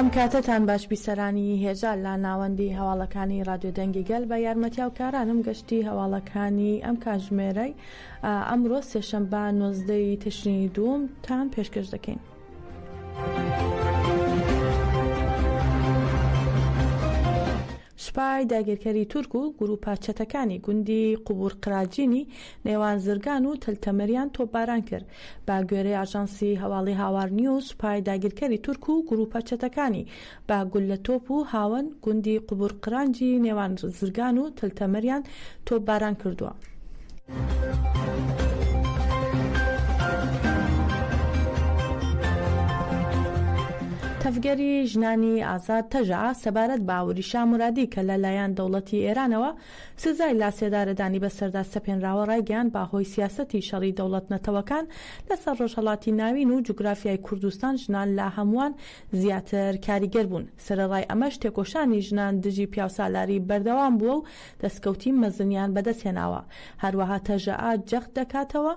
ئەم کاتەتان باش بیسەرانی هێژا لە ناوەندی هەواڵەکانی رادیۆ دەنگی گەل بە یارمەتیاو کارانم گەشتی هەواڵەکانی ئەم کاژمێرەی ئەمڕۆ سێشەمبا نۆزدە ی تشرینی دووم تان پێشکەش دەکەین. سوپای داگیرکەری تورک و گروپە چەتەکانی گوندی قوبور قراجینی نێوان زرگان و تەلتەمەریان تۆپباران کرد با گوێرەی ئاژانسی هەواڵی هاوار نیوز سوپای داگیرکەری تورک و گروپە چەتەکانی بە گوللە تۆپ و هاوەن گوندی قوبورقرانجی نێوان زرگان و تلتەمریان تۆپ باران کردووە. تەڤگەری ژنانی ئازاد تەژەئا سەبارەت بە ئاوری شا مورادی کە لە لایەن دەوڵەتی ئێرانەوە سزای لاسێدارەدانی بەسەردا سەپێنراوە ڕایگەیاند بە هۆی سیاسەتی شەڕی دەوڵەت نەتەوەکان لەسەر ڕۆژهەڵاتی ناوین و جوگرافیای کوردستان ژنان لە هەمووان زیاتر کاریگەر بوون، سەرەڕای ئەمەش تێکۆشانی ژنان دژی پیاوسالاری بەردەوام بووە و دەستکەوتی مەزنیان بەدەست هێناوە، هەروەها تەژەئا جەخت دەکاتەوە،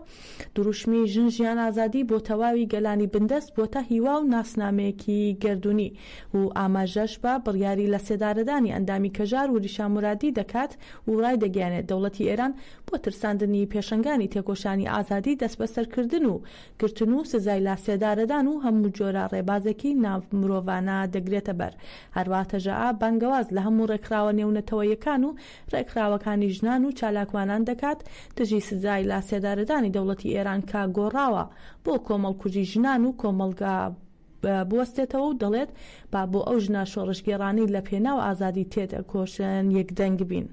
دروشمی ژن ژیان ئازادی بۆ تەواوی گەلانی بندەست بووەتە هیوا و ناسنامەیەکی گەردوونی و ئاماژەش بە بڕیاری لەسێدارەدانی ئەندامی کەژار وریشا مورادی دەکات و ڕایدەگەیەنێت دەوڵەتی ئێران بۆ ترساندنی پێشەنگانی تێکۆشانی ئازادی دەستبەسەرکردن و گرتن و سزای لاسێدارەدان و هەموو جۆرە ڕێبازێکی ناڤ مرۆڤانە دەگرێتە بەر. هەروا تەژەئا بانگەواز لە هەموو ڕێکخراوە نێونەتەوەیەکان و ڕێکخراوەکانی ژنان و چالاکوانان دەکات دژی سزای لاسێدارەدانی دەوڵەتی ئێران کە گۆڕاوە بۆ کۆمەڵکوژی ژنان و کۆمەڵگا بوەستێتەوە و دەڵێت با بۆ ئەو ژنە شۆڕشگێڕانەی لە پێناو ئازادی تێدەکۆشن یەکدەنگ بین.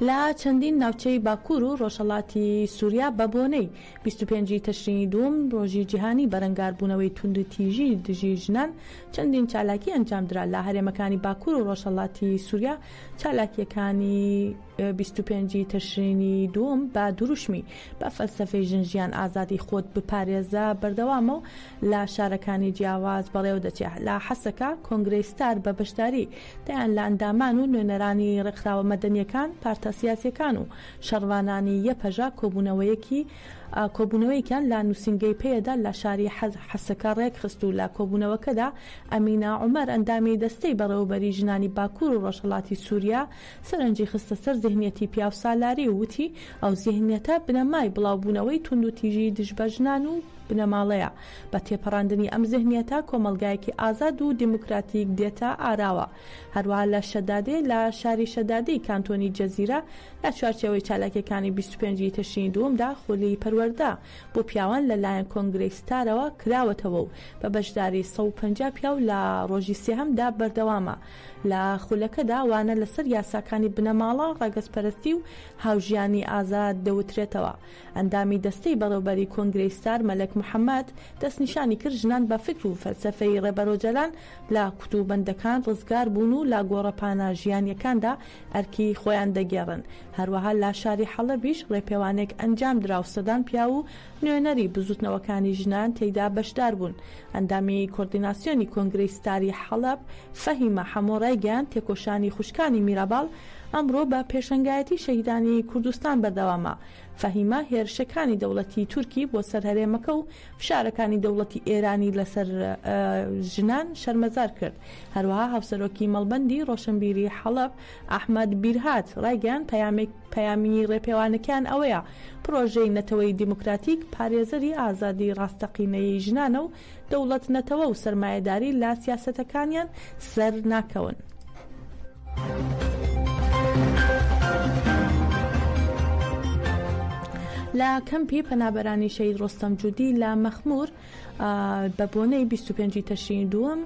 لە چەندین ناوچەی باکوور و ڕۆژهەڵاتی سووریا بە بۆنەی 25 تەشرینی دووم ڕۆژی جیهانی بەرەنگاربوونەوەی توند تیژی دژی ژنان چەندین چالاکی ئەنجامدرا لە هەرێمەکانی باکوور و ڕۆژهەڵاتی سووریا چالاکیەکانی 25 تەشرینی دووم بە دروشمی بە فەلسەفەی ژن ژیان ئازادی خۆت بپارێزە بەردەوامە و لە شارەکانی جیاواز بەڕێوە دەچێ، لە حەسەکە کۆنگرەی ستار بە بەشداری دەیان لە ئەندامان و نوێنەرانی ڕێکخراوە مەدەنیەکان، پارتە سیاسیەکان و شەڕڤانانی یەپەژە کۆبوونەوەیەکی کۆبوونەوەیەکیان لە نووسینگەی پەیەدە لە شاری حەسەکە ڕێکخست و لە کۆبوونەوەکەدا ئەمینە عومەر ئەندامی دەستەی بەڕێوەبەری ژنانی باکوور و ڕۆژهەڵاتی سوریا سەرنجی خستە سەر زیهنیەتی پیاوسالاری و وتی ئەو زیهنیەتە بنەمای بڵاوبوونەوەی توندوتیژی دژ بە ژنان و بنەماڵەیە. بە تێپەڕاندنی ئەم زهنیەتە کۆمەڵگایەکی ئازاد و دیموکراتیک دێتە ئاراوە. هەروەها لە شەدادێ لە شاری شەدادێی کانتۆنی جزیرە لە چوارچێوەی چالاکیەکانی بیست و پێنج ی تشرینی دووەمدا خولی پەروەردە بۆ پیاوان لە لایەن کۆنگرەی ستارەوە کراوەتەوە و بە بەشداری سەد و پەنجا پیاو لە ڕۆژی سێهەمدا بەردەوامە لە خولەکەدا وانە لەسەر یاساکانی بنەماڵە، ڕەگەزپەرستی و هاوژیانی ئازاد دەوترێتەوە. ئەندامی دەستەی بەڕێوبەری کۆنگرەی ستار مەلەک محەمەد دەستنیشانی کرد ژنان بە فکر و فەلسەفەی ڕێبەر ئۆجەلان لە کوت و بەندەکان ڕزگار بوون و لە گۆڕەپانە ژیانیەکاندا ئەرکی خۆیان دەگێڕن هەروەها لە شاری حەڵەبیش ڕێپێوانێک ئەنجام درا و سەدان پیاو و نوێنەری بزوتنەوەکانی ژنان تێیدا بەشدار بوون ئەندامی کۆردیناسیۆنی کۆنگرەی ستاری حەڵەب فەهیمە حەمۆ ڕایگەیاند تێکۆشانی خوشکانی میراباڵ ئەمڕۆ بە پێشەنگایەتی شەهیدانی کوردستان بەردەوامە فەهیمە هێرشەکانی دەوڵەتی تورکی بۆ سەر هەرێمەکە و فشارەکانی دەوڵەتی ئێرانی لەسەر ژنان شەرمەزار کرد. هەروەها هاوسەرۆکی مەڵبەندی ڕۆشنبیری حەڵەب ئەحمەد بیرهات ڕایگەیاند پەیامی ڕێپێوانەکەیان ئەوەیە پڕۆژەی نەتەوەی دیموکراتیک پارێزەری ئازادی ڕاستەقینەی ژنانە و دەوڵەت نەتەوە و سەرمایەداری لە سیاسەتەکانیان سەر ناکەون. لە کەمپی پەنابەرانی شەهید ڕۆستەم جودی لە مەخمور بە بۆنەی 25 تەشرینی دووەم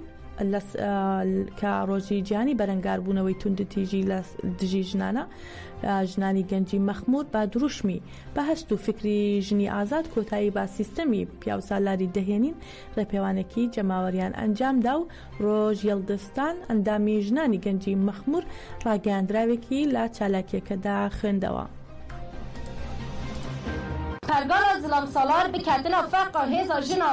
کە ڕۆژی جیانی بەرەنگاربوونەوەی توندتیژی لە دژی ژنانە ژنانی گەنجی مەخمور بە دروشمی بە هەست و فکری ژنی ئازاد کۆتایی بە سیستەمی پیاوسالاری دەهێنین ڕێپێوانێکی جەماوەریان ئەنجامدا و ڕۆژ یەڵدزتان ئەندامی ژنانی گەنجی مەخمور ڕاگەیاندراوێکی لە چالاکیەکەدا خوێندەوە. پەرگەڵە زڵەمسالار بکەتنە فەقە هێزە ژنە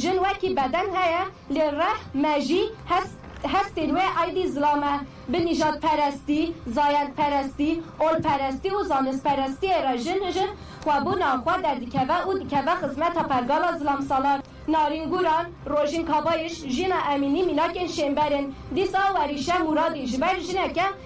ژن وەکی بەدەن هەیە لێ ڕەح مەژی هەس هەستین وێ ئایدی زڵامە بە نیژاد پەرەستی زایەند پەرەستی ئۆل پەرەستی و زانست پەرەستیێ رە ژن ژن خوە بو ناو خوە دە دکەوە ئو دکەوە خزمەتا پەرگاڵا زڵام سالار نارین گوران ڕۆژین کابایش ژینا ئەمینی میناکێن شێنبەرن دیسا وەریشە مورادی ژبەر ژنەکە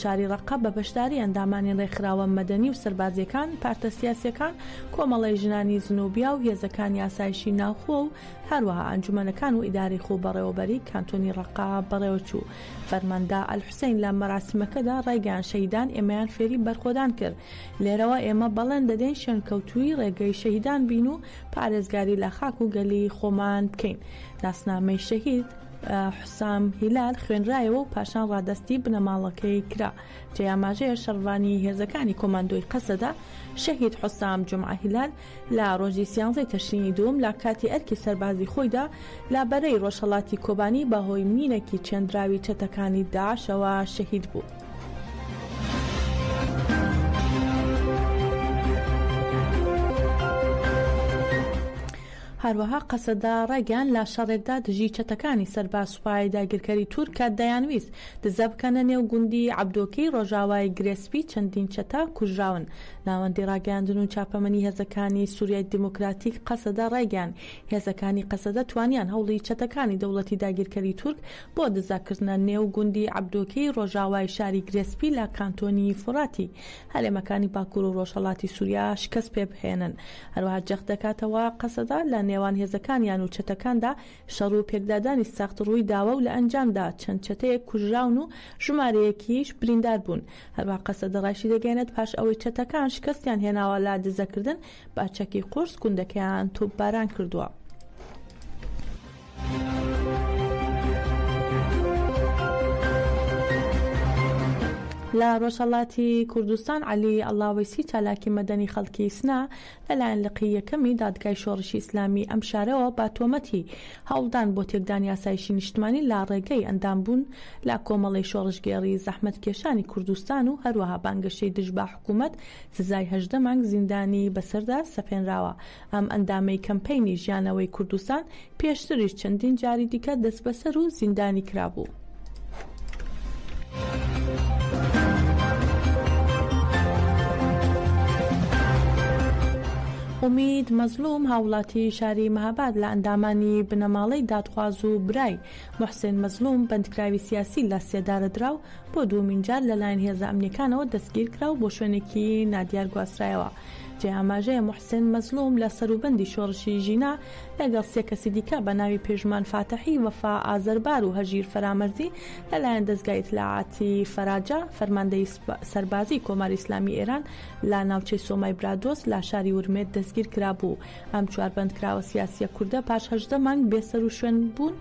شاری ڕەققە بە بەشداری ئەندامانی ڕێکخراوە مەدەنی و سەربازییەکان، پارتە سیاسییەکان، کۆمەڵەی ژنانی زنوبیا و هێزەکانی ئاسایشی ناوخۆ و هەروەها ئەنجومەنەکان و ئیدارەی خۆبەڕێوەبەریی کانتۆنی ڕەققە بەڕێوەچوو. فەرماندە ئەلحوسەین لە مەراسیمەکەدا ڕایگەیاند شەهیدان ئێمەیان فێری بەرخۆدان کرد، لێرەوە ئێمە بەڵێن دەدەین شوێنکەوتووی ڕێگەی شەهیدان بین و پارێزگاری لە خاک و گەلی خۆمان بکەین. ناسنامەی شەهید. حوسام هیلال خوێنرایەوە و پاشان ڕادەستی بنەماڵەکەی کرا. جێی ئاماژەیە شەڕڤانی هێزەکانی کۆماندۆی قەسەدە، شەهید حوسام جومعە هیلال، لە ڕۆژی سیانزەی تەشرینی دووم لە کاتی ئەرکی سەربازی خۆیدا لە بەرەی ڕۆژهەڵاتی کۆبانی بە هۆی مینێکی چێندراوی چەتەکانی داعشەوە شەهید بوو. هەروەها قەسەدە ڕایگەیاند لە شەڕێکدا دژی چەتەکانی سەر بە سوپای داگیرکەری تورک کە دەیانویست دزە بکەنە نێو گوندی عەبدۆکێی ڕۆژاوای گرێ سپی چەندین چەتە کوژراون. ناوەندی ڕاگەیاندن و چاپەمەنی هێزەکانی سوریای دیموکراتیک قەسەدە ڕایگەیاند هێزەکانی قەسەدە توانیان هەوڵی چەتەکانی دەوڵەتی داگیرکەری تورک بۆ دزە کردنە نێو گوندی عەبدۆکێی ڕۆژاوای شاری گرێ سپی لە کانتۆنی فوڕاتی هەرێمەکانی باکور و ڕۆژهەڵاتی سوریا شکەست پێبهێنن، هەروەها جەخت دەکاتەوە قەسەدە لە نێوان هێزەکانیان و چەتەکاندا شەڕ و پێکدادانی سەخت ڕوویداوە و لە ئەنجامدا چەند چەتەیەک کوژراون و ژمارەیەکیش بریندار بوون، هەروەها قەسەدە ڕایشیدەگەیەنێت پاش ئەوەی چەتەکان شکەستیان هێناوە لە دزەکردن بە چەکی قورس گوندەکەیان تۆپباران کردووە. لە ڕۆژهەڵاتی کوردستان عەلی ئەڵاوەیسی چالاکی مەدەنی خەڵکی سنە لەلایەن لقی یەکەمی دادگای شۆڕشی ئیسلامیی ئەم شارەوە بە تۆمەتی هەوڵدان بۆ تێکدانی ئاسایشی نیشتمانی لە ڕێگەی ئەندامبوون لە کۆمەڵەی شۆڕشگێڕی زەحمەتکێشانی کوردستان و هەروەها بانگەشەی دژ بە حکوومەت سزای هەژدە مانگ زیندانیی بەسەردا سەپێنراوە ئەم ئەندامەی کەمپەینی ژیانەوەی کوردستان پێشتریش چەندین جاری دیکە دەستبەسەر و زیندانی کرابوو. ئومید مەزلوم هاوڵاتی شاری مەهاباد لە ئەندامانی بنەماڵەی دادخواز و برای محسێن مەزلوم بەندکراوی سیاسی لە سێدارە درا و بۆ دووەمین جار لەلایەن هێزە ئەمنیەکانەوە دەستگیرکرا و بۆ شوێنێکی نادیار گواسترایەوە. جێی ئاماژەیە موحسێن مەزلوم لە سەروبەندی شۆڕشی ژینا لەگەڵ سێ کەسی دیکە بە ناوی پێشمان فاتەحی، وەفا ئازەربار و هەژیر فەرامەرزی لە لایەن دەزگای ئیتلاعاتی فەراجا، فەرماندەیی سەربازیی کۆماری ئیسلامیی ئێران لە ناوچەی سۆمای برادۆست لە شاری ورمێ دەستگیر کرابوو. ئەم چوار بەندکراوە سیاسییە کوردە پاش هەژدە مانگ بێ سەروشوێن بوون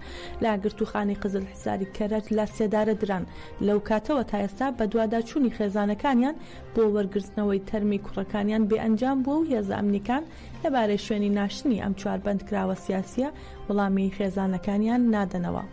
لە گرتووخانەی قزلحیساری کەرەج لە سێدارە دران. لەو کاتەوە تا ئێستا بەدواداچوونی خێزانەکانیان بۆ وەرگرتنەوەی تەرمی کوڕەکانیان بێ ئەنجام بووە و هێزە ئەمنیکان لە بارەی شوێنی ناشتنی ئەم چوار بەندکراوە سیاسیە وڵامی خێزانەکانیان نادەنەوە.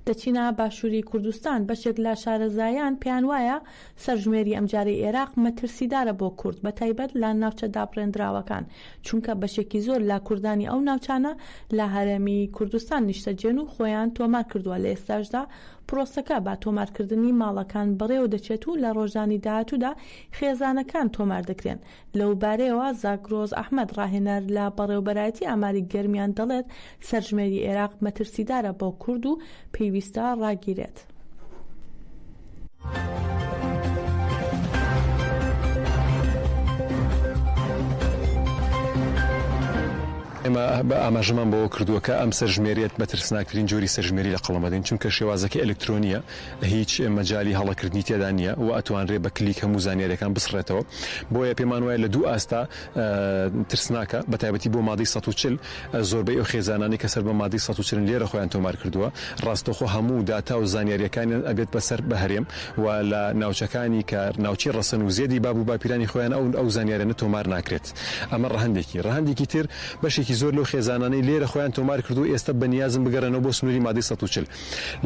دەچینە باشوری کوردستان، بەشێک لە شارەزایان پێیان وایە سەرژمێری ئەمجارەی ئێراق مەترسیدارە بۆ کورد بەتایبەت لە ناوچە دابڕێندراوەکان، چونکە بەشێکی زۆر لە کوردانی ئەو ناوچانە لە هەرێمی کوردستان نیشتەجێن و خۆیان تۆمار کردووە، لە ئێستاشدا پرۆسەکە بە تۆمارکردنی ماڵەکان بەڕێوەدەچێت و لە ڕۆژانی داهاتوودا خێزانەکان تۆمار دەکرێن. لەوبارەیەوە زاگرۆس ئەحمەد ڕاهێنەر لە بەڕێوەبەرایەتی ئاماری گەرمیان دەڵێت، سەرژمێری ئێراق مەترسیدارە بۆ کورد و پێویستە ڕاگیرێت. ئێمە ئاماژەمان بەوە کردووە کە ئەم سەرژمێرییە بە ترسناکترین جۆری سەرژمێری لە قەڵەمدەین، چونکە شێوازەکەی ئەلکترۆنییە، هیچ مەجالی هەڵەکردنی تێدا نییە و ئەتوانرێ بە کلیک هەموو زانیاریەکان بسڕێتەوە بۆیە پێمان وایە لە دوو ئاستا ترسناکە بە تایبەتی بۆ مادەی سەد و چل زۆربەی ئەو خێزانانی کە سەر بە مادەی سەد و چلن لێرە خۆیان تۆمار کردووە ڕاستەوخۆ هەموو داتا و زانیاریەکانیان ئەبێت بە سەر بە هەرێم و لە ناوچەکانی کە ناوچەی ڕەسەن و زێدی باب و باپیرانی خۆیانە ئەو ئەو زانیارانە تۆمار ناکرێت ئەمە ڕەهەندێکی ڕەهەندێکی تر بەشێکی زۆر لەو خێزانانەی لێرە خۆیان تۆمار کردووە ئێستا بە نیازن بگەڕێنەوە بۆ سنووری مادەی سەد و چل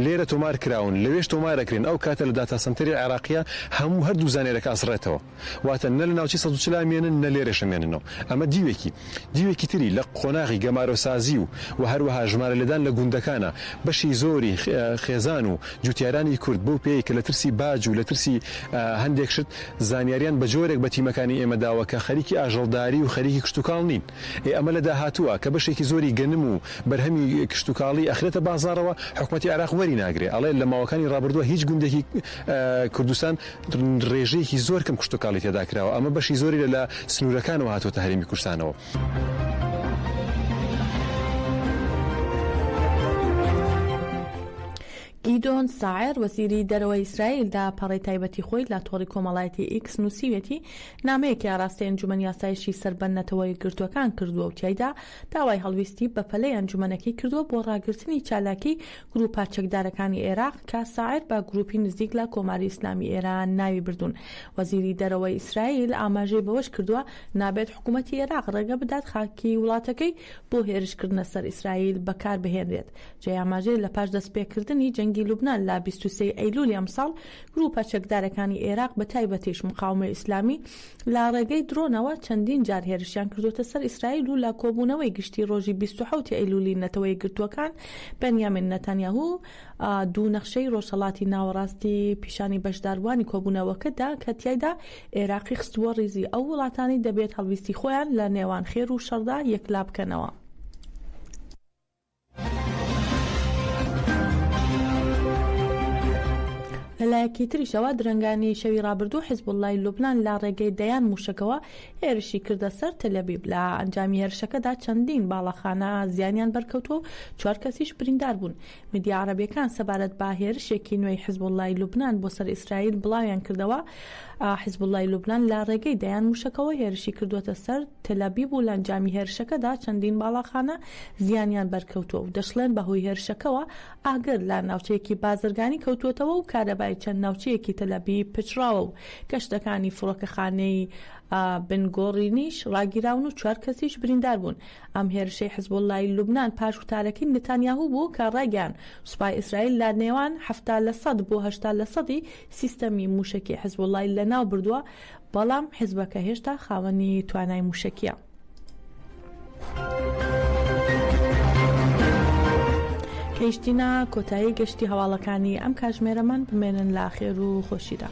لێرە تۆمار کراون لەوێش تۆمار ئەکرێن ئەو کاتە لە داتا سەنتەری عێراقیە هەموو هەردوو زانیارەکە ئەسڕێتەوە واتە نە لە ناوچەی سەد و چل ئەمێنن نە لێرەش ئەمێننەوە ئەمە دیوێکی دیوێکی تری لە قۆناغی گەمارۆسازی و وە هەروەها ژمارە لێدان لە گوندەکانە بەشی زۆری خێزان و جوتیارانی کورد بەو پێی کە لە ترسی باج و لە ترسی هەندێک شت زانیاریان بە جۆرێک بە تیمەکانی ئێمە داوە کە خەریکی ئاژەڵداری و خەریکی کشتوکاڵ نین. ئێ ئەمە لە داهاتووە کە بەشێکی زۆری گەنم و بەرهەمی کشتوکاڵی ئەخرێتە بازاڕەوە حکومەتی عێراق وەری ناگرێ ئەڵێ لە ماوەکانی ڕابردووە هیچ گوندێکی کوردستان ڕێژەیەکی زۆر کەم کشتوکاڵی تێدا کراوە ئەمە بەشی زۆری لە لە سنوورەکانەوە هاتووەتە هەرێمی کوردستانەوە. گیدۆن ساعەر، وەزیری دەرەوەی ئیسرائیل داپەڕەی تایبەتی خۆی لە تۆڕی کۆمەڵایەتی ئیکس نووسیویەتی، نامەیەکی ئاراستەی ئەنجومەنی ئاسایشی سەر بە نەتەوە یەکگرتووەکان کردووە و تیایدا داوای هەڵویستی بەپەلەی ئەنجومەنەکەی کردووە بۆ ڕاگرتنی چالاکیی گرووپە چەکدارەکانی عێراق کە ساعر بە گرووپی نزیک لە کۆماری ئیسلامی ئێران ناوی بردوون. وەزیری دەرەوەی ئیسرائیل ئاماژەی بەوەش کردووە، نابێت حکوومەتی عێراق ڕێگە بدات خاکی وڵاتەکەی بۆ هێرشکردنە سەر ئیسرائیل بەکاربهێنرێت. جێی ئاماژەیە لەپاش دەستپێکردنی جەنگی لوبنان لە بیست و سێ ی ئەیلوولی ئەمساڵ، گرووپە چەکدارەکانی ئێراق بە تایبەتیش مقاومەی ئیسلامی لە ڕێگەی درۆنەوە چەندین جار هێرشیان کردووەتە سەر ئیسرائیل و لە کۆبوونەوەی گشتی ڕۆژی بیست و حەوت ئەیلوولی نەتەوە یەکگرتووەکان بنیامین نەتانیاهو دوو نەخشەی ڕۆژهەڵاتی ناوەڕاستی پیشانی بەشداروانی کۆبوونەوەکە دا کە تیایدا ئێراقی خستبووە ڕیزی ئەو وڵاتانەی دەبێت هەڵویستی خۆیان لە نێوان خێر و شەڕدا یەکلا بکەنەوە. لەلایەکی تریشەوە درەنگانی شەوی ڕابردوو حزبوڵای لوبناان لە ڕێگەی دەیان موشەکەوە هێرشی کردە سەر تەلەبیب لە ئەنجامی هێرشەکەدا چەندین باڵەخانە زیانیان بەرکەوتووە و چوار کەسیش بریندار بوون میدیا عربیەکان سەبارەت بە هێرشێکی نوێی حزبوڵای لوبناان بۆ سەر ئیسرائیل بڵاویان کردەوە حیزبوڵڵای لوبنان لە ڕێگەی دەیان مووشەکەوە هێرشی کردووەتە سەر تەلئەبیب و لە ئەنجامی هێرشەکەدا چەندین باڵاخانە زیانیان بەرکەوتووە و دەشڵێن بەهۆی هێرشەکەوە ئاگر لە ناوچەیەکی بازرگانی کەوتووەتەوە و کارەبای چەند ناوچەیەکی تەلئەبیب پچڕاوە و گەشتەکانی فڕۆکەخانەی بن گۆڕینیش ڕاگیراون و چوار کەسیش بریندار بوون. ئەم هێرشەی حیزبوڵڵای لوبنان پاش وتارەکەی نتانیاهو بوو کە ڕایگەیاند سوپای ئیسرائیل لە نێوان حەفتا لە سەد بۆ هەشتا لە سەدی سیستەمی مووشەکی حزبوڵڵای لەناو بردووە، بەڵام حزبەکە هێشتا خاوەنی توانای مووشەکییە. گەیشتینە کۆتایی گەشتی هەواڵەکانی ئەم کاژمێرەمان بمێنن لە خێر و خۆشیدا.